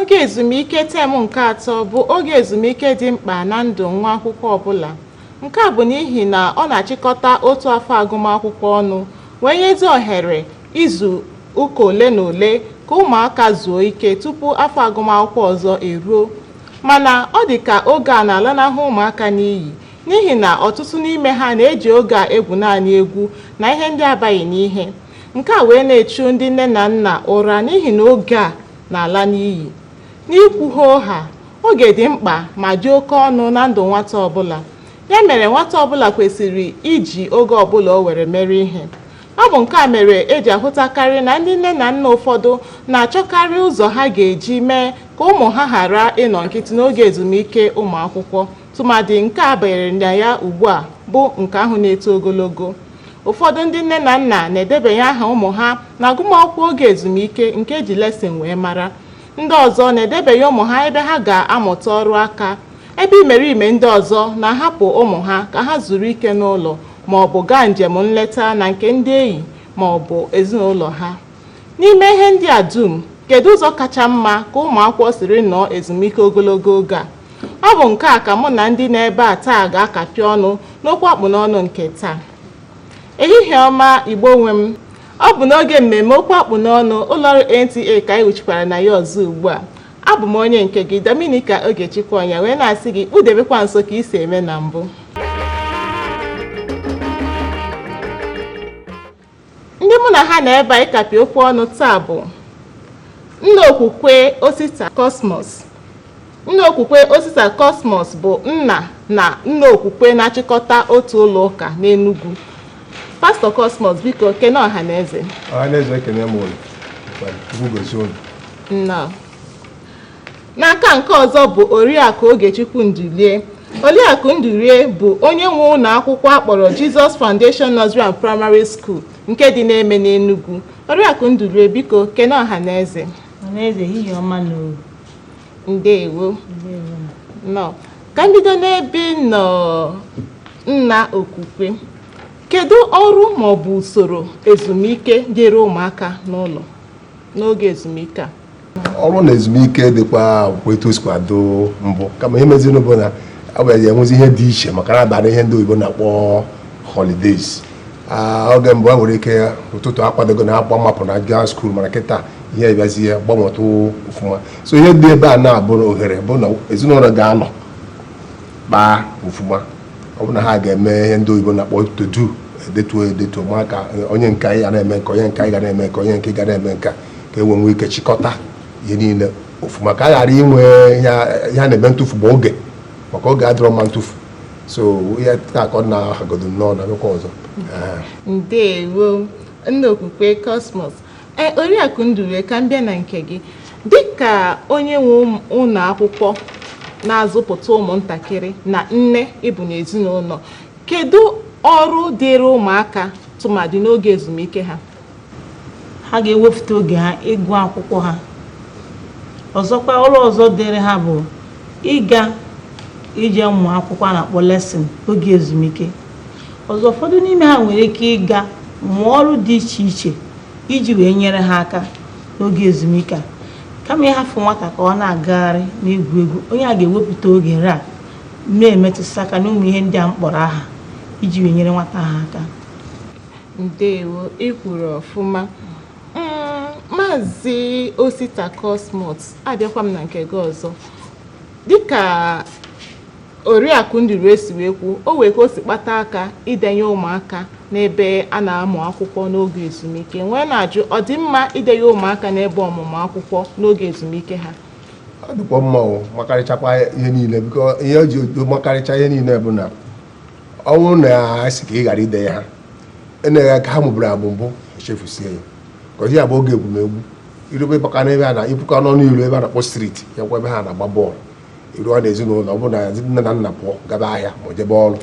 Oge ezumike tem nke atọ bụ oge ezumike dị mkpa na ndụ nwa akwụkwọ ọbụla. Nke a bụ n'ihi na ọ na-achịkọta otu afọ agụmakwụkwọ ọnụ wee nyezi ohere izu ụka ole na ole ka ụmụaka zuo ike tupu afọ agụmakwụkwọ ọzọ eruo. Mana ọ dị ka oge a na-alanahụ ụmụaka n'iyi n'ihi na ọtụtụ n'ime ha na-eji oge a egwu naanị egwu na ihe ndị abaghị n'ihe. Nke a wee na-echu ndị nne na nna ụra n'ihi na oge a na-ala n'iyi. N'ikwu hoo haa, oge dị mkpa ma dị oke ọnụ na ndụ nwata ọbụla. Ya mere nwata ọbụla kwesịrị iji oge ọbụla o nwere mere ihe. Ọ bụ nke a mere e ji ahụtakarị na ndị nne na nna ụfọdụ na-achọkarị ụzọ ha ga-eji mee ka ụmụ ha ghara ịnọ nkịtị n'oge ezumike ụmụ akwụkwọ, tụmadị nke a banyere na ya ugbu a bụ nke ahụ na-eto ogologo. ụfọdụ ndị nne na nna na-edebanye aha ụmụ ha na agụmakwụkwọ oge ezumike nke e ji lesson wee mara ndị ọzọ na-edebanye ụmụ ha ebe ha ga-amụta ọrụ aka ebe imerime ndị ọzọ na-ahapụ ụmụ ha ka ha zuru ike n'ụlọ ma ọ bụ gaa njem nleta na nke ndị enyi ma ọ bụ ezinụlọ ha n'ime ihe ndị a dum kedu ụzọ kacha mma ka ụmụ akwụkwọ siri nọọ ezumike ogologo oge a Ọ bụ nke a ka mụ na ndị nọ ebe a taa ga-akapị ọnụ n'okwu akpụ n'ọnụ nke taa. Ehihie ọma Igbo nwe m, ọ bụ n'oge mmemme okwu akpụ n'ọnụ ụlọọrụ NTA ka anyị wuchikwara na ya ọzọ ugbu a. Abụ m onye nke gị Dominica Ogechukwu Ọnya wee na-asị gị kpudebekwa nso ka i si eme na mbụ. Ndị mụ na ha nọ ebe a ịkapị okwu ọnụ taa bụ nna okwukwe Osita Cosmos. Nna okwukwe Osita Cosmos bụ nna na nna okwukwe na-achịkọta otu ụlọ ụka n'Enugu. Pastọ Cosmos, biko kene ọha na eze. Ọha na eze ekene m unu. Chukwu gozie unu. Nnọọ. n'aka nke ọzọ bụ oriakụ ogechukwu ndulie oriakụ ndulie bụ onye nwe ụlọ akwụkwọ a kpọrọ jesus foundation nursery and primary school nke dị n'Emene Enugwu oriakụ ndulie biko kene ọha na eze Ọhaneze ehihie ọma nụ o. ndewo Ndewo. nnọọ ka m bido n'ebe ị nọ nna okwukwe kedu ọrụ maọbụ usoro ezumike dịrị ụmụaka n'ụlọ n'oge ezumike a ọrụ na ezumike dịkwa bụkwa etu o sikwa dị mbụ kama ihe meziri bụ na ọ bịara enwezi ihe dị iche maka na a bịara ihe ndị oyibo na-akpọ holidays Ah, oge mbụ a nwere ike ụtụtụ akwadogo na akpa mapụ na gaa school mana kịta ihe bịazie gbanwetụ ọfụma so ihe dị ebe a na-abụ ohere bụ na ezinụlọ ga-anọ kpaa ọfụma ọ bụ na ha ga-eme ihe ndị oyibo na-akpọ to do edetuo edetuo maka onye nke anyị ga na-eme nke onye nke anyị ga na-eme nke onye nke ga na-eme nka ka e nwee ike chịkọta ihe niile ọfụma ka a ghara inwe ihe a na-eme ntụfu bụ oge maka oge adịrọ mma ntụfu so ihe taa ka ọ na-ahagodo nnọọ na akụkọ ọzọ ndewo nna okwukwe cosmos Ee, Oriakụ Ndulue, ka m bịa na nke gị. Dịka onye nwe ụm- ụlọ akwụkwọ na-azụpụta ụmụntakịrị na nne ị bụ n'ezinụlọ, kedu ọrụ dịịrị ụmụaka tụmadị n'oge ezumike ha? ha ga-ewepụta oge ha ịgụ akwụkwọ ha ọzọkwa ọrụ ọzọ dịrị ha bụ ịga ije mmụ akwụkwọ a na-akpọ lesson oge ezumike ọzọ ụfọdụ n'ime ha nwere ike ịga mụọ ọrụ dị iche iche iji wee nyere ha aka n'oge ezumike a kama ịhafụ nwata ka ọ na-agagharị na-egwu egwu onye a ga-ewepụta oge ya na-emetụsị aka n'ụmụ ihe ndị a m kpọrọ aha iji wee nyere nwata ha aka ndewo ị kwuru ọfụma mm, maazị osita cosmos abịakwa m na nke gị ọzọ dịka Oriakụ Ndulue si wee kwuo, o nwere ka o si kpatụ aka idenye ụmụaka n'ebe a na-amụ akwụkwọ n'oge ezumike m wee na-ajụ ọ dị mma idenye ụmụaka n'ebe ọmụmụ akwụkwọ n'oge ezumike ha ọ dịkwa mma o makarịchakwa ihe niile biko ihe o ji makarịcha ihe niile bụ na ọ bụrụ na a sị ka ị ghara idenye ha ihe nke ha mụburu amụ mbụ echefusie ya ka ozi ya bụ oge egwumegwu irobe baka n'ebe a na ipuka n'ọnụ ilo ebe a na-akpọ street ya kwa ebe ha na-agba bọọlụ i ruo na ezinụlọ ọ bụrụ na nne na nna pụọ gaba ahịa ma jebe ọrụ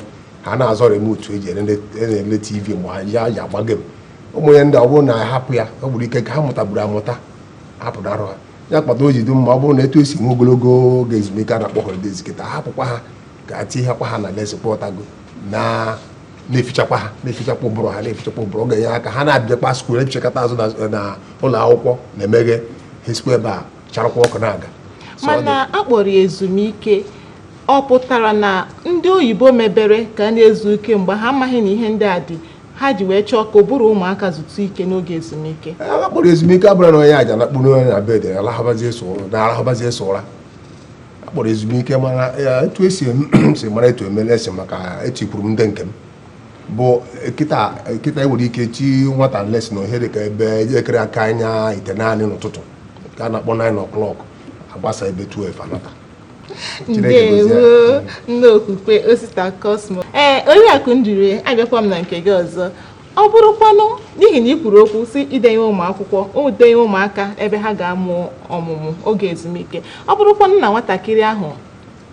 ha na-azọ remote e ji ele tv mgbe ha ji agba game ụmụ ihe ndị ọ bụrụ na a hapụ ya ọ bụrụ ihe nke ha mụtaburu amụta hapụrụ arụ ha ya kpata o ji dị mma ọ bụrụ na etu e si nwee ogologo oge ezumike a na-akpọ holidays kịta hapụkwa ha ka a tinyekwa ha na lesson kpọtago na na-efichakwa ha na-efichakwa ụbụrụ ha na-efichakwa ụbụrụ ọ ga-enye aka ha na-abịakwa school efichakata azụ na ụlọ akwụkwọ na-emeghe ha esikwa ebe a charakwa ọkụ na-aga mana a kpọrọ ya ezumike ọ pụtara na ndị oyibo mebere ka a na-ezu ike mgbe ha amaghị na ihe ndị a dị ha ji wee chọọ ka ụbụrụ ụmụaka zutu ike n'oge ezumike a kpọrọ ezumike abụrọ na onye a ja nakpụrụ onye na bed na-arahụbazi sọ ụra a kpọrọ ezumike mana etu e si si mara etu eme lesson maka etu i kwuru m ndị nke m bụ kịta e nwere ike chi nwata lesson n'ihe dị ka ebe elekere aka anya itenaanị n'ụtụtụ ka a na-akpọ 9 o'clock a gbasaa ebe 12 a nata ndewo nna okwukwe osita cosmos ee oriakụ ndulue abịakwa m na nke gị ọzọ ọ bụrụkwanụ n'ihi na ị kwuru okwu sị idenye ụmụ akwụkwọ idenye ụmụaka ebe ha ga-amụ ọmụmụ oge ezumike ọ bụrụkwanụ na nwatakịrị ahụ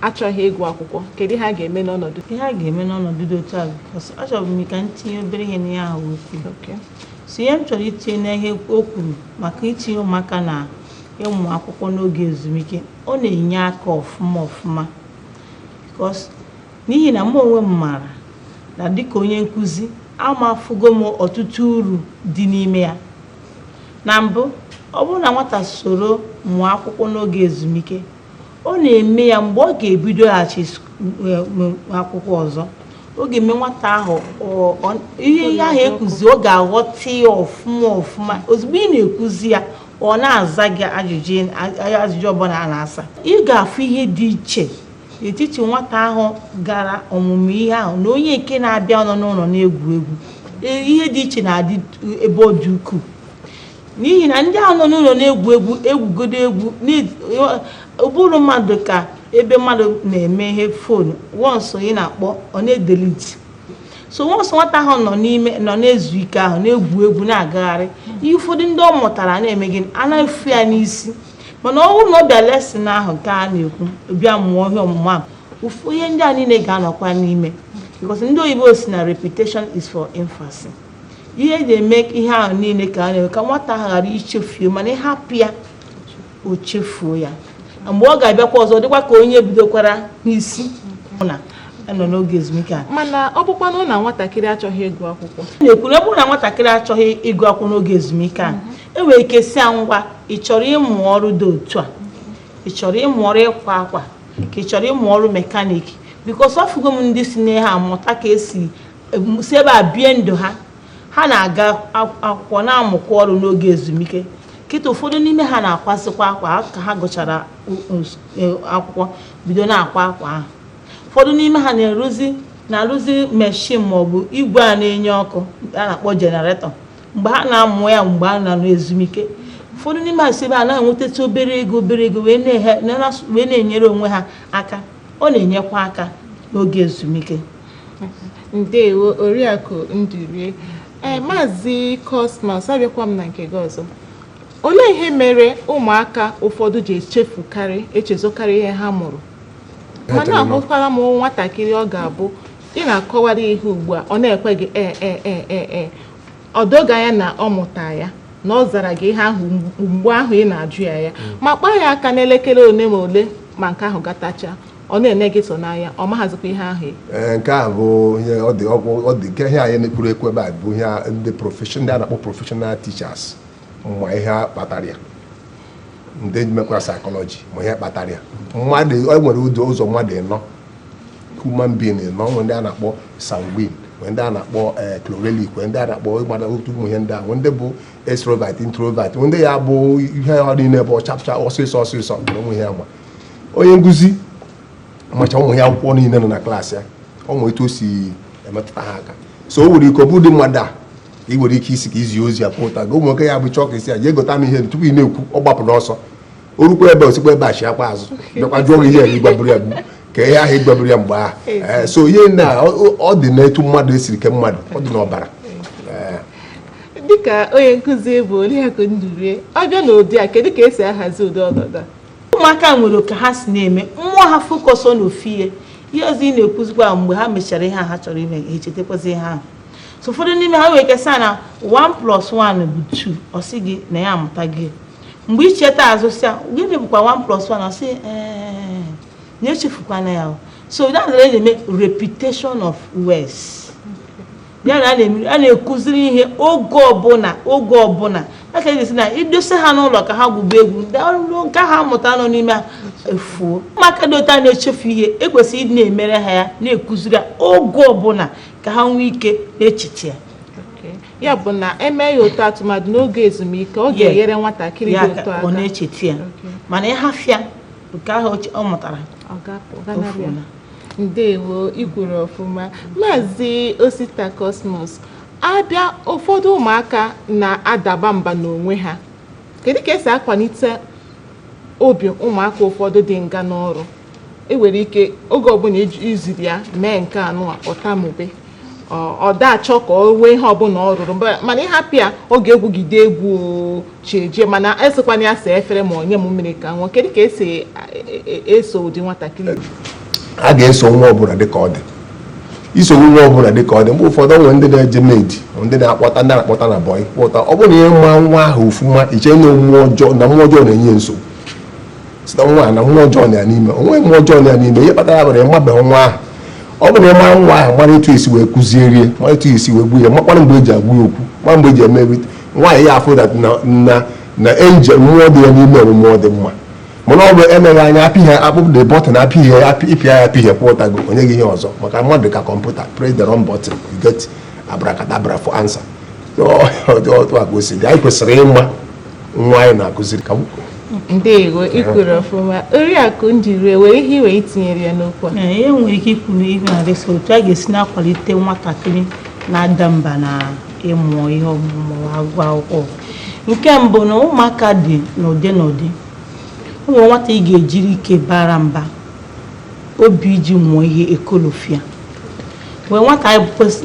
achọghị ịgụ akwụkwọ kedu ihe a ga-eme n'ọnọdụ ihe a ga-eme n'ọnọdụ dị otu a because achọrọ m ka m tinye obere ihe n'ihe ahụ o kwuru Okay. so ihe m chọrọ itinye n'ihe o kwuru maka itinye ụmụaka na ịmụ akwụkwọ n'oge ezumike ọ na-enye aka ọfụma ọfụma because n'ihi na mụ onwe m maara na dịka onye nkụzi amafugo m ọtụtụ uru dị n'ime ya na mbụ ọ bụrụ na nwata soro mụọ akwụkwọ n'oge ezumike Ọ na-eme ya mgbe ọ ga-ebidoghachi sk- eh, m- akwụkwọ ọzọ ọ ga-eme nwata ahụ ọ- ọ- ihe ihe ahụ ekuzi ọ ga-aghọta ya ọfụma ọfụma ozugbo ị na-ekuzi ya ọ na-aza gị ajụjụ ị- a- ajụjụ ọbụla a na-asa ị ga-afụ ihe dị iche n'etiti nwata ahụ gara ọmụmụ ihe ahụ na onye nke na-abịarọ nọ n'ụlọ na-egwu egwu Ee, ihe dị iche na-adị ebe ọ dị ukwuu n'ihi na ndị ahụ nọ n'ụlọ na-egwu egwu egwugodo egwu ụbụrụ mmadụ ka ebe mmadụ na-eme ihe fonu once ị na-akpọ ọ na-edeliti so once nwata ahụ nọ n'ime nọ na-ezu ike ahụ na-egwu egwu na-agagharị ihe ụfọdụ ndị ọ mụtara na-eme gịnị ana-efu ya n'isi mana ọ bụrụ na ọ bịa lesson ahụ nke a na-ekwu bịa mụọ ihe ọmụmụ ahụ ihe ndị a niile ga-anọkwa n'ime because ndị oyibo sị na repetition is for emphasis ihe eji eme ihe ahụ niile ka a na-eme ka nwata ahụ ghara ichefuo mana ị hapụ ya o chefuo ya mgbe ọ ga-abịakwa ọzọ dịkwa ka onye bidokwara n'isi na nọ n'oge ezumike a mana ọ bụkwanụ na nwatakịrị achọghị ịgụ akwụkwọ na-ekwu na ọ bụrụ na nwatakịrị achọghị ịgụ akwụkwọ n'oge ezumike a e nwere ike sị ya ngwa ị chọrọ ịmụ ọrụ dị otu a ị chọrọ ịmụ ọrụ ịkwa akwa ka ị chọrọ ịmụ ọrụ mekanik because afụgo m ndị si na ha amụta ka esi si ebe a bie ndụ ha ha na-aga akwụkwọ na-amụkwa ọrụ n'oge ezumike kịta ụfọdụ n'ime ha na-akwasịkwa akwa ka ha gụchara e, akwụkwọ bido na-akwa akwa ahụ ụfọdụ n'ime ha na-eruzi na-arụzi meshin maọbụ igwe a na-enye ọkụ a na-akpọ jenaretọ mgbe ha na-amụ ya mgbe a nọ n'ezumike ụfọdụ n'ime ha si ebe a na-enwetatụ obere ego obere ego wee na-enyere onwe ha aka ọ na-enyekwa aka n'oge ezumike ndewo oriakụ Nduru ee maazị Cosmas abịakwa m na nke gị ọzọ olee ihe mere ụmụaka ụfọdụ ji echefukarị echezọkarị ihe ha mụrụ mana ahụkwara m nwatakịrị ọ ga-abụ ị na-akọwara ihe ugbu a ọ na-ekwe gị ee ee ee ee ee o doo gị anya na ọ mụta ya na ọ zara gị ihe ahụ mgbe ahụ ị na-ajụ ya ya ma kpaa ya aka n'elekere ole ma ole ma nke ahụ gatacha ọ na-ene gị so n'anya ọ maghazikwa ihe ahụ ee nke a bụ ihe ọ dị ọgwụ ọ dị nke ihe anyị na-ekwuru ekwu ebe a bụ ihe a- ndị profession ndị a na-akpọ professional teachers ma ihe kpatara ya ndị mekwa psychology ma ihe kpatara ya mmadụ o nwere ụzọ ụzọ mmadụ ịnọ human being ịnọ nwee ndị a na-akpọ sanguine nwee ndị a na-akpọ eh, chlorelic nwee ndị a na-akpọ ịgbada otu ụmụ ihe ndị a nwee ndị bụ extrovert introvert nwee ndị ya bụ ihe ọ niile bụ ọchapụcha ọsịsọ ọsịsọ na ụmụ ihe ama onye nkụzi macha ụmụ ya akwụkwọ niile nọ na klaasị ya o nwere etu o si emetụta ha aka so o nwere ike ọ bụ ụdị mmadụ a ị nwere ike isi ka izi ozi ya pụta gị ụmụ nwoke ya bụ chọọ ka ị sị ya jee gota m ihe tupu ị na-ekwu ọ gbapụ n'ọsọ o rukwa ebe o sikwa ebe a chịakwa azụ bịakwa jụọ gị ihe ị gwaburu ya gbu ka ihe ahụ ị gwaburu ya mgbe ahụ eh, so ihe na ọ dị n'etu mmadụ e siri kee mmadụ ọ dị n'ọbara dịka onye nkụzi bụ Oriakụ Ndurie ọ bịa n'ụdị a kedu ka esi ahazi ụdị ọnọdụ a ụmụaka nwere oke ha si na-eme mmụọ ha focus ọ n'ofu ihe ihe ọzọ ị na-ekwuzikwa mgbe ha mechara ihe a ha chọrọ ime ha echetakwazi ihe ahụ so ụfọdụ n'ime ha nwere ike sị na 1 plus 1 bụ 2 ọ sị gị na ya amụtago mgbe ị cheta azụ sị ya gịnị bụkwa 1 plus 1 ọ sị ee na echefukwana ya so that's why a na-eme repetition of words ya na a na-ekụziri ihe oge ọbụla oge ọbụla a ka esi na i dosa ha n'ụlọ ka ha gwube egwu na nke ha mụta nọ n'ime ha efuo ụmụaka dị otu a na-echefu ihe e kwesịrị ịdị na-emere ha ya na-ekụziri oge ọbụla ka ha nwee ike na-echeta ya ya bụ na e mee ya otu a tụmadụ n'oge ezumike ọ ga-enyere nwatakịrị dị otu a aka ọ na-echeta ya mana ị hafụ ya nke ahụ ọ mụtara ndewo i kwuru ọfụma maazị osita cosmos a bịa ụfọdụ ụmụaka na-adaba mba n'onwe ha kedu ka esi akwalite obi ụmụaka ụfọdụ dị ngana ọrụ e nwere ike oge ọbụla iji- i ziri ya mee nke a nwa ọ tamube Ọ- ọ da achọ ka o nwee ihe ọbụla ọ rụrụ mba- mana ị hapụ ya ọ ga-egwugide egwu o, chi ejie mana ị sịkwanụ ya saa efere ma ọ nye m mmiri ka m ṅụọ kedu ka esi e- e- e- eso ụdị nwatakịrị a ga-eso nwa ọbụla dịka ọ dị i so nwa ọbụla dịka ọ dị mgbe ụfọdụ nwere ndị na-eje maid ndị na-akpọta ndị na-akpọta na bọị kpọta ọ bụrụ na ị ma nwa ahụ ọfụma i chee na omume ọjọọ na mmụọ ọjọọ na-enye nsogbu sị na nwa a na mmụọ ọjọọ nọ ya n'ime o nwe mmụọ ọjọọ nọ ya n'ime ihe kpatara ya bụrụ ị mabeghị nwa ahụ ọ bụrụ na ị ma nwa ahụ mara etu esi wee kụzieri ya mara etu esi wee gbuo ya makwana mgbe eji agwa ya okwu mara mgbe eji eme everything nwaanyị ya afụ dat na na na angel mmụọ dị ya n'ime bụ mmụọ dị mma mana ọ bụ emeghị anya apịghị akpụpụ the button apịghị ya apị- ị pịa ya apịghị pụtago o nye gị ihe ọzọ maka mmadụ ka kọmputa press the wrong button you get abracadabra for answer So, ọ dị otu a ka o si dị anyị kwesịrị ịma nwaanyị na-akụziri ka nwoke ndewo i kwuru ọfụma oriakụ njiri o nwere ihe i nwere itinyere ya n'okwu a ihe i nwere ike ikwu n'ihe na-adịsa otu a ga-esi na-akwalite nwatakịrị na-ada mba na ịmụ ihe ma ọ bụ ịgụ akwụkwọ nke mbụ na ụmụaka dị n'ụdị n'ụdị o nwere nwata ị ga-ejiri ike bara mba obi iji mụọ ihe ekolofia o nwee nwata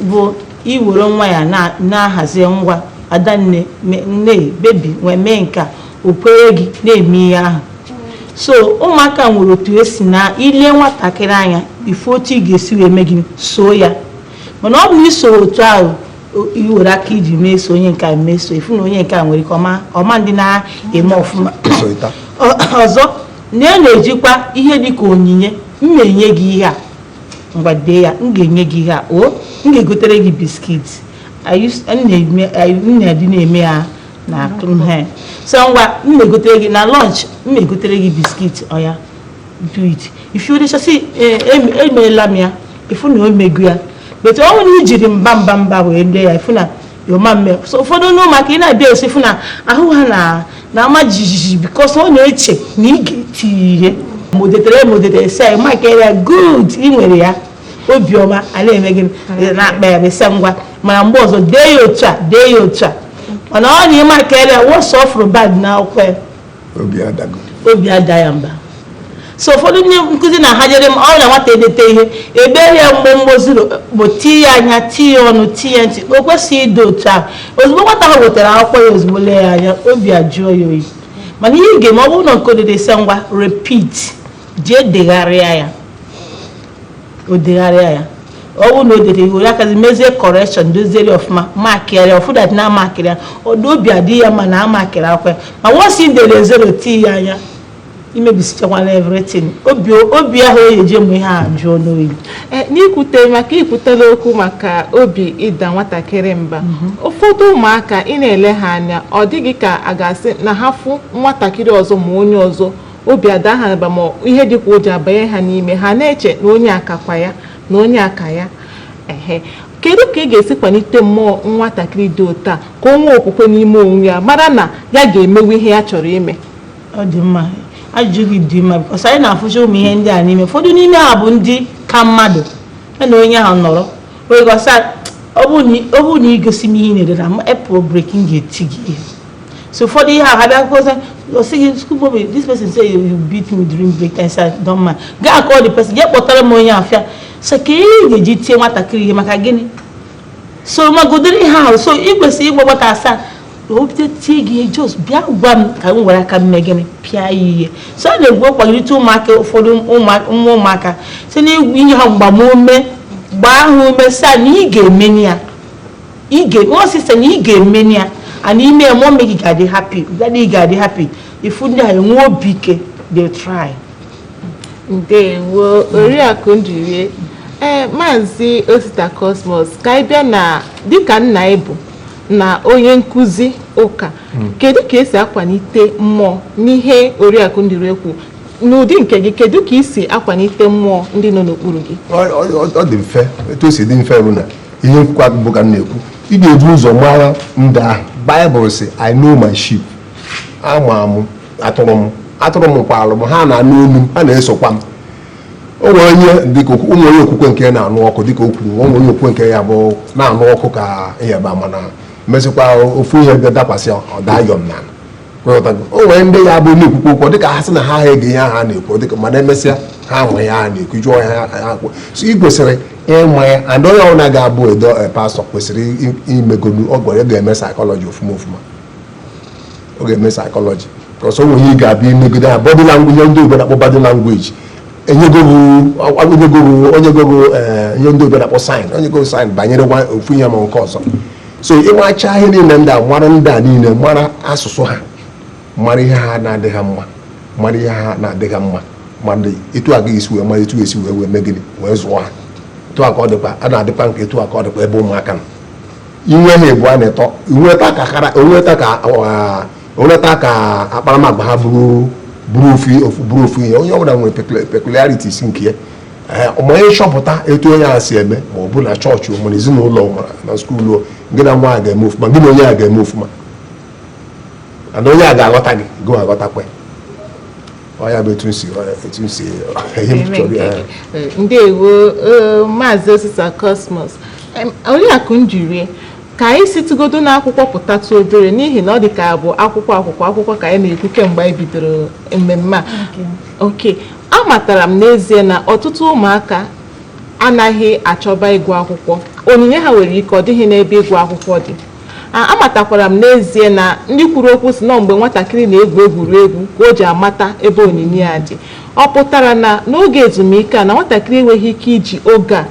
bụ i were nwayọ na- na-ahazi ngwa adanne me- nne baby wee mee nke a o kwere gị na-eme ihe ahụ so ụmụaka nwere otu esi na i lee nwatakịrị anya ị fụ otu ị ga-esi wee mee gị soo ya mana ọ bụ na i soro otu ahụ o- i were aka iji meso onye nke a meso ị fụ na onye nke a nwere ike ọma ọma ndị na-eme ọfụma ọzọ na e na-ejikwa ihe dị ka onyinye m na-enye gị ihe a ngwa dee ya m ga-enye gị ihe a o m ga-egotere gị biscuit m na-adị na-eme ya na he so ngwa m na-egotere gị na lunch m na-egotere gị biscuit oya do it ị fụ o dechaa sị emeela m ya ị fụ na o mego ya but ọ bụrụ na i jiri mba mba mba wee dee ya ị fụ na ọ ma-eme so ụfọdụ n'ụmụaka ị na-abịa nso ị fụ na ahụ ha na na-ama jijiji because ọ na-eche na ị ga-eti ya ihe ma o detere ma o detere sị makịrị ya good ị nwere ya obiọma a na-eme gị na-akpa ya bịa sị ngwa mana mgbe ọzọ dee ya otu a dee ya otu a mana ọ na ị makịrị ya once ọ fụrụ bad na akwụkwọ ya obi ada ya mba so ụfọdụ ndị nkụzi na ha jere m ọ bụ na nwata edeteghị ihe ebe ya mgbe mgbe zero bụ ti ya anya ti ya ọnụ ti ya ntị o kwesịghị ịdị otu a ozugbo nwata ahụ wetara akwụkwọ ya ozugbo lee ya anya obi ajụọ ya oyi mana ihe ị ga-eme ọ bụrụ na nke o dede sị ngwa repeat jee degharịa ya o degharịa ya ọ bụrụ na o dere iwu ya kazi mezie correction doziere ya ọfụma makịrị ya ọ fụ that na a makịrị ya good obi adị ya mma na a makịrị akwụkwọ ya ma once i dere zero tii ya anya i mebisichakwala everything obi obi ahụ o ji eje mụ ihe ajụọ n'oyi Eh, n'ikwute maka i kwutela okwu maka obi ịda nwatakịrị mba ụfọdụ ụmụaka ị na-ele ha anya ọ dị gị ka a ga-asị na ha fụ nwatakịrị ọzọ ma onye ọzọ obi ada ha mba ma ihe dị ka ụjọ abanye ha n'ime ha na-eche na onye a kakwa ya na onye a ka ya ehe kedu ka ị ga-esi kwalite mmụọ nwatakịrị dị otu a ka o nwee okwukwe n'ime onwe ya mara na ya ga-emenwu ihe ya chọrọ ime ọ dị mma ajụjụ gị dị mma because anyị na-afụcha ụmụ ihe ndị a n'ime ụfọdụ n'ime ha bụ dị ka mmadụ ya na onye ahụ nọrọ wee gwa sị ọ bụrụ na i gosighị m ihe na-edere m e pụọ break m ga-eti gị ihe so ụfọdụ ihe ahụ abịa kọsa o sị gị school boy this person say you you beat me during break time sir don mind gaa call the person jee kpọtara m onye ahụ so ka ihe ị ga-eji tie nwatakịrị ihe maka gịnị so magodoro ihe ahụ so ị kwesịrị ịgwa nwata a sị ya o bido tie gị ihe just bịa gwa m ka m were aka m mee gịnị pịa ya ihe so a na-ekwu ịkwalite ụmụaka ụfọdụ ụmụ- nwa ụmụaka site n'inye ha mgbamume gbaa ha ume sị ya na ị ga-emeni ya Wee sị, sị na ị ga-emeni ya and i mee ya mummy gị ga-adị happy, daddy gị ga-adị happy. Ị fụ ndị a enwee obi ike, they try. Ndewo, Oriakụ Njiri. Ee, Maazị Osita Cosmos, ka anyị bịa na dịka nna ị bụ na onye nkụzi ụka, kedu ka esi akwalite mmụọ n'ihe Oriakụ Njiri kwu? N'ụdị nke gị, kedu ka i si akwalite mmụọ ndị nọ n'okpuru gị? Ọ- ọ ọ dị mfe etu o si dị mfe bụ na ihe m kwukwa mbụ ka m na-ekwu ị ga-ebu ụzọ mara ndị ahụ baịbụl sị i know my sheep ama m atụrụ m atụrụ m makwalụ m ha na-anụ olu m ha na-esokwa m o nwere onye dịka ụmụ onye okwukwe nke ya na-anụ ọkụ dịka o kwuru o nwere onye okwukwe nke ya bụ na-anụ ọkụ ka ịyaba mana mesịkwa ofu ihe bịa dakwasị ya ọ daa yọm na o nwere ndị ya bụ na-ekwukwa okwu dịka ha sị na ha ha ege ihe ha na-ekwu dịka mana emesịa ha ahụ ya ha na-ekwu jụọ ya ha kwụ so ị kwesịrị ịma ya and onye ọbụla ga-abụ edo eh, pastọ kwesịrị imegolu ọ gwara ga-eme psychology ofuma ofuma ọ ga-eme psychology cause o nwe ihe ị ga-abịa imegide ha body language ndị oyibo na-akpọ body language o nyego gị eh, ihe ndị oyibo na-akpọ sign o nyego gị sign banyere ofu ihe ma nke ọzọ so ị macha ihe niile ndị a mara ndị a niile mara asụsụ ha mara ihe ha na-adị ha mma mara ihe ha na-adị ha mma mara etu a ga-esi wee mara etu esi wee wee mee gịnị wee zụọ ha etu a ka ọ dịkwa a na-adịkwa nke etu a ka ọ dịkwa ebe ụmụaka nọ i nwee ha abụa na ịtọ inweta ka kara onweta ka onweta ka akparamagwa ha bụrụ bụrụ ofu ihe onye ọbụla nwere peculiarities nke ya ma ị chọpụta etu onye a si eme ma ọ bụ na chọọchị ma na ezinụlọ ma na skuulu gị na nwa a ga-eme ofuma gị na onye a ga-eme ofuma and onye a ga-aghọta gị gị aghọtakwa ya ọ bụ etu m si etu m si ihe m chọrọ ya ndewo maazị osita cosmos oriakụ njiri ka anyị situgodo n'akwụkwọ pụtatụ obere n'ihi na ọ dị ka bụ akwụkwọ akwụkwọ akwụkwọ ka anyị na-ekwu kemgbe anyị bidoro mmemme a okay Amatara m n'ezie na ọtụtụ ụmụaka anaghị achọba ịgụ akwụkwọ. Onyinye ha nwere ike ọ dịghị n'ebe ịgụ akwụkwọ dị. Amatakwara m n'ezie na ndị kwuru okwu sị na ọ mgbe nwatakịrị na-egwu egwuregwu ka o ji amata ebe onyinye ya dị. Ọ pụtara na n'oge ezumike a na nwatakịrị enweghị ike iji oge a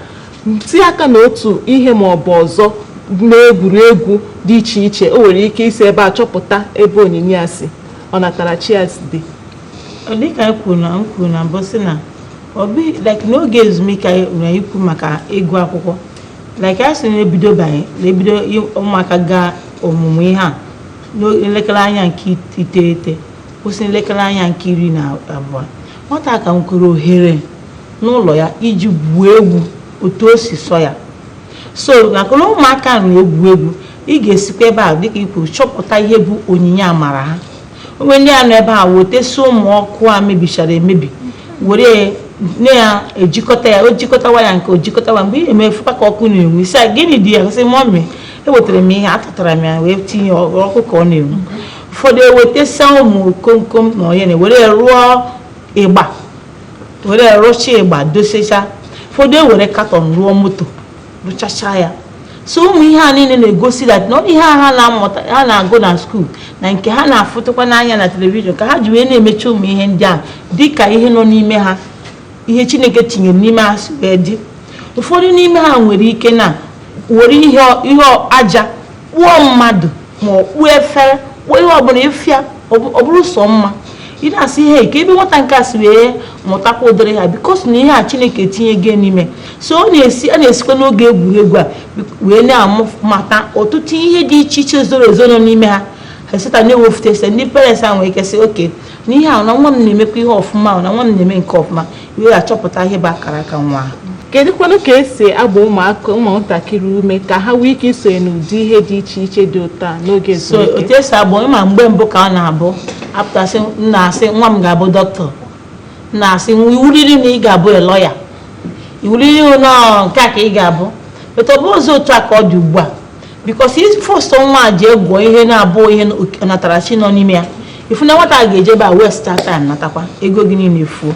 tinye aka n'otu ihe ma ọ bụ ọzọ n'egwuregwu dị iche iche. O nwere ike isi ebe a chọpụta ebe onyinye ya si, ọnatarachi ya si dị. dịka anyị kwuru na m kwuru na mbụ sị na ọ bụ like n'oge ezumike anyị na anyị kwuru maka ịgụ akwụkwọ like anyị sị na-ebido banye na-ebido ị- ụmụaka gaa ọmụmụ ihe a n'elekere anya nke it- iteghete kwụsị n'elekere anya nke iri na abụọ nwata ka nwere ohere n'ụlọ ya iji gwuo egwu otu o si sọ ya so maka na ụmụaka na-egwu egwu ị ga-esikwa ebe a dịka i kwuru chọpụta ihe bụ onyinye amara ha o nwee ndị a nọ ebe a wetesi ụmụ ọkụ a mebichara emebi were na-ejikọta ya o jikọta waya nke o jikọta waya mgbe ị na-eme ị fụkwa ka ọkụ na-enwu ị sị ya gịnị dị ya sị mọmị ewetara m ihe atụtara m ya wee tinye ọkụ ka ọ na-enwu ụfọdụ ewetesa ụmụ komkom na onye na were rụọ ịgba were rụcha ịgba dosecha ụfọdụ ewere katọn rụọ moto rụchacha ya so ụmụ ihe a niile na-egosi that na ọ ihe ha na-amụta ha na-agụ na skuul na nke ha na-afụtụkwa n'anya na telivishọn ka ha ji wee na-emecha ụmụ ihe ndị a dị ka ihe nọ n'ime ha ihe chineke tinyere n'ime ha si wee dị ụfọdụ n'ime ha nwere ike na were ihe aja kpụọ mmadụ ma ọ kpụọ efere kpụọ ihe ọbụla ị fụ ya ọ bụrụ sọ mma ị na-asị hee kee ebe nwata nke a si wee mụtakwa ụdịrị ihe a because na ihe a chineke tinye gị n'ime so ọ na-esi a na-esikwa n'oge egwuregwu a wee na-amụ mata ọtụtụ ihe dị iche iche zoro ezo nọ n'ime ha esita na-ewefute ese ndị parents a nwere ike sị okay na ihe a na nwa m na-emekwa ihe ọfụma na nwa m na-eme nke ọfụma wee achọpụta ihe bụ akara aka nwa ahụ kedụkwanụ ka esi agba ụmụaka ụmụntakịrị ume ka ha nwee ike isonye n'ụdị ihe dị iche iche dị ụtọ a n'oge ezumike so otu esi agba ị ma mgbe mbụ ka ọ na-abụ apụtasị m na-asị nwa m ga-abụ doctor m na-asị nwa iwuriri na ị ga-abụ a lawyer iwuriri na ọ nke a ka ị ga-abụ but ọ bụzị otu a ka ọ dị ugbu a because ị force nwa a jee gụọ ihe na-abụghị ọnatarachi nọ n'ime ya ị fụ na nwata a ga-eje ebe a waste time natakwa ego gị niile efuo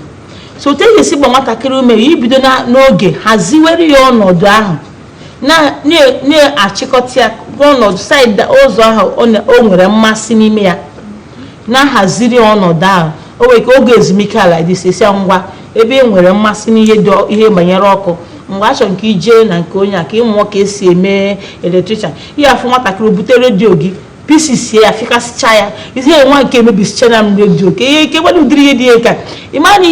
so otu e ga-esi gba nwatakịrị ume ya ibido n'oge haziwere ya ọnọdụ ahụ na-achịkọta ya ọnọdụ saịdị ụzọ ahụ o nwere mmasị n'ime ya na-ahaziri ọnọdụ ahụ o nwere ka oge ezumike ala dị sesi ngwa ebe e nwere mmasị n'ihe ihe banyere ọkụ mgbe a chọrọ nke ijee na nke onye a ka ịmụọ ka esi eme electrician ị ya-afụ nwatakịrị bute redio gị pieces sie ya fịkasịcha ya ihe nwa nke emebisichana m redio ka ihe nke gbadị ụdịrị ihe dị ya ka ị mara na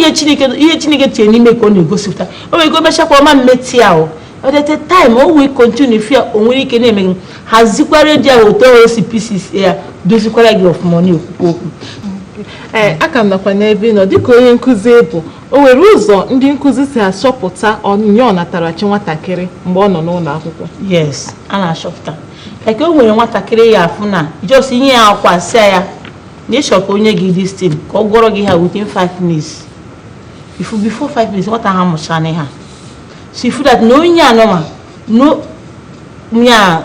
ihe chineke tinye n'ime ka ọ na-egosipụta o nwere ike o mechakwa ọ ma mmeti ahụ but at a time o wee continue fear o nwere ike na-eme hazikwa redio ahụ otu o si pieces ya dozikwara gị ọfụma ọ na-ekwukwa okwu ee aka m nakwa n'ebe ị nọ dịka onye nkụzi bụ o nwere ụzọ ndị nkụzi si achọpụta onyinye ọnatarachi nwatakịrị mgbe ọ nọ n'ụlọ akwụkwọ yes a na-achọpụta like o nwere nwatakịrị ị ya-afụ na just i nye ya akwa sị ya na ị chọ ka o nye gị this thing ka ọ gụọrọ gị ha within 5 minutes ị fụ before 5 minutes nwata ahụ amụchana ha so ị fụ that na onye a noma na onye a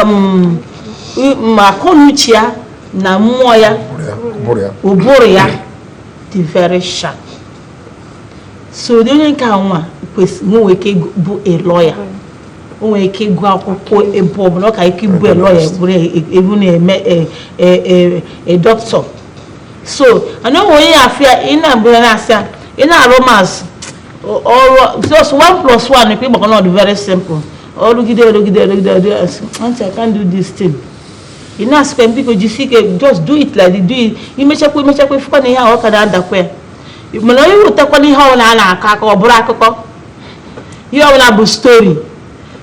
um akọnuche ya na mmụọ ya ụbụrụ ya dị very sharp so ụdị onye nke nwa kwesịrị nwee ike bụ a lawyer o nwere ike ịgụ akwụkwọ ebe ọbụla ọ ka ike ịbụ a lawyer bụrụ e, e, ebu na-eme a e, doctor so mana o nwe onye ị ya-afụ ị na-abụrụ na-asị ya ị na-arụ maths ọ rụ just one plus one ikpe ịgbakọ na ọ dị very simple ọ rụgide rụgide rụgide ọ bịa sị aunty i can't do this thing ị na-asịkwa m biko jisie ike just do it like do it i mechakwa i mechakwa ị fụkwa na ihe ahụ ọ ka na-adakwa ya mana onye wetakwa na ihe ọbụla a na-akọ akọ ọ bụrụ akụkọ ihe ọbụla bụ story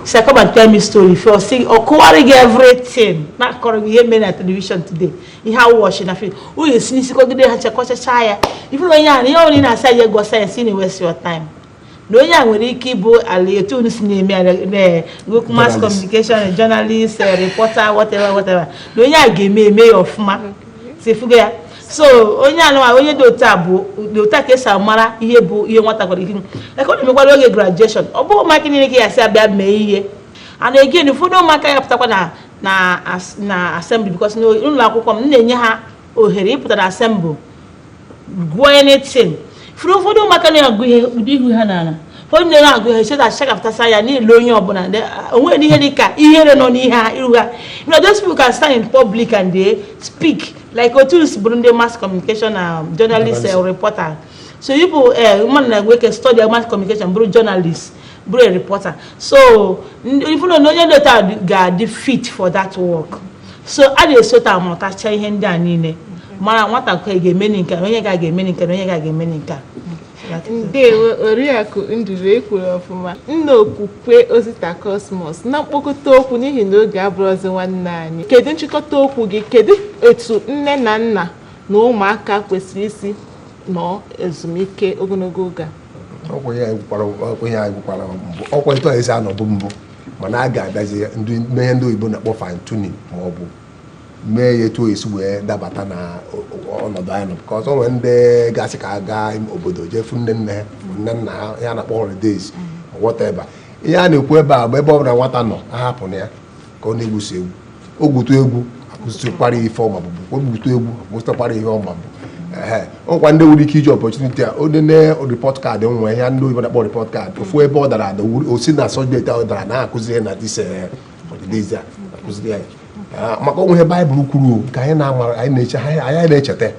sị come and tell me story ị fụ ọ sị ọ kọwaara gị everything na-akọrọ gị ihe mere na television today ihe ọ watchị na film o si n'isi kọgide ha kọchacha ya ị fụrụ onye ahụ ihe ọbụla ị na-asị ya gụọ science ị na waste your time na onye a nwere ike ịbụ ala etu unu si na-eme gụọ mass communication journalist eh, reporter whatever whatever na onye a ga-eme eme ya ọfụma so ị fụgo ya so onye a nụwa onye dị otu a bụ ụdị otu a ka esi amara ihe bụ ihe nwata kwara ike eke ọ na-emekwara oge graduation ọ bụghị ụmụaka niile ka ị ya-asị bịa mee ihe a na-ege ụfọdụ ụmụaka ya-apụtakwa na na as- na assembly because na ụlọ akwụkwọ m m na-enye ha ohere ịpụta na assembly gụọ anything ị fụrụ ụfọdụ ụmụaka na-agụ ihe ụdị ihu ha n'ala onye na-ere agụ ihe cheta achakapụtasa ya niile onye ọbụla de- o nweghị ihe dị ka ihere nọ n'ihe ha iru ha you know those people can stand in public and they speak like otu si bụrụ ndị mass communication na journalist eh, reporter so ị bụ eh, mmadụ na-enwe ike study mass communication bụrụ journalist bụrụ a reporter so even na onye nleta ga-adị fit for that work so a na-esi otu a amatacha ihe ndị a niile mara nwatakịrị ga-emeni nke a onye ga-emeni nke a onye ga-emeni nke a ndewo oriakụ nduru i kwuru ọfụma nna okwukwe osita cosmos na mkpokọta okwu n'ihi na oge abụrụzi nwanne anyị kedu nchịkọta okwu gị kedu etu nne na nna na ụmụaka kwesịrị isi nọ ezumike ogologo oge a ọkwa ya gwụkwara ọkwa ya gwụkwara mbụ ọkwa etu anyị si anọbụ mbụ mana a ga-abịazi mee ihe ndị oyibo na-akpọ fine tuning ma ọ bụ mee ya etu o esi wee dabata na o- o- ọnọdụ anyị nọ because o nwee ndị gasị ka a gaa obodo jee fụ nne nne ha ma nne nna ha ihe a na-akpọ holidays whatever ihe a na-ekwu ebe a bụ ebe ọ bụla nwata nọ ahapụna ya ka ọ na-egwusi egwu o gwutu egwu a kụzitụkwara ife ọma bụ o gwutu egwu a kụzitụkwara ihe ọma bụ ọkwa ndị nwere ike iji opportunity a onye nee report card nwa ya ndị oyibo na-akpọ report card ọ fụ ebe ọ dara ada o si na subject ọ dara na-akụziri na this holidays a akụziri ya maka o nwe ihe baịbụl kwuru ka anyị na-amara anyị na-eche anyị na-echeta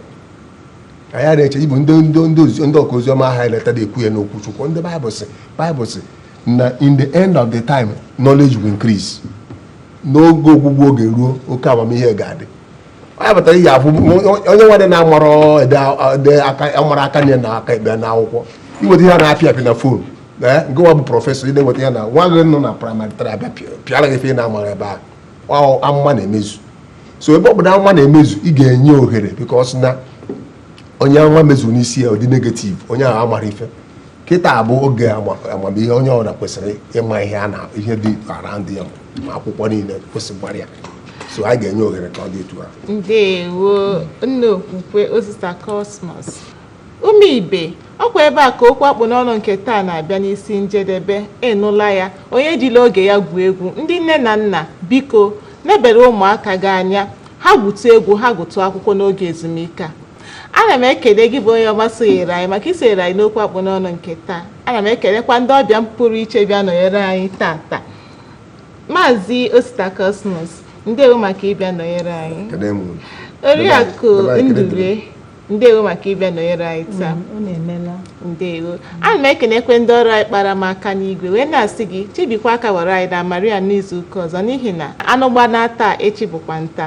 anyị a na-eche ibu ndị ndị ndị ọka oziọma ahụ anyị letara ekwu ya n'okwu chukwu ndị baịbụl sị baịbụl sị na in the end of the time knowledge will increase n'oge ọgwụgwụ oge ruo oke amamihe ga-adị onye batara ihe afụ onye nwadị na-amara amara aka nni na aka ekpe na akwụkwọ i weta ihe na-apịa apị na phone eh, gịnwa bụ professor ị na-enweta ya na nwa gị nọ na primary tara abịa pịara gị ife ị na-amara ebe ahụ amụma na-emezu so ebe ọ bụ na amụma na-emezu ị ga-enye ohere because na onye amụma mezuru n'isi ya ọ dị negative onye ahụ amara ife kịta bụ oge amamihe onye ọbụla kwesịrị ịma ihe na ihe dị around ya ma akwụkwọ niile kwesịkwara ya so anyị ga-enye ohere ka ọ dị etu a ndewo nna okwukwe osita cosmos ụmụ ibe ọkwa ebe a ka okwu akpụ n'ọnụ nke taa na-abịa n'isi njedebe ị nụla ya onye ejila oge ya gwuo egwu ndị nne na nna biko nebere ụmụaka gị anya ha gwutu egwu ha gụtụ akwụkwọ n'oge ezumike a ana m ekele gị bụ onye ọma sonyere anyị maka isonyere anyị n'okwu akpụ n'ọnụ nke taa ana m ekelekwa ndị ọbịa m pụrụ iche bịa nọnyere anyị tata maazị osita cosmos ndewo maka ịbịa nọnyere anyị Kene m unu. oriakụ Ebe anyị kene ndube ndewo maka ịbịa nọnyere anyị taa unu emela ndewo ana m ekenekwa ndị ọrụ anyị kpara m aka n'igwe wee na-asị gị chebekwa aka ghọrọ anyị na maria n'izu ụka ọzọ n'ihi na anụ gbanaa taa echi bụkwa nta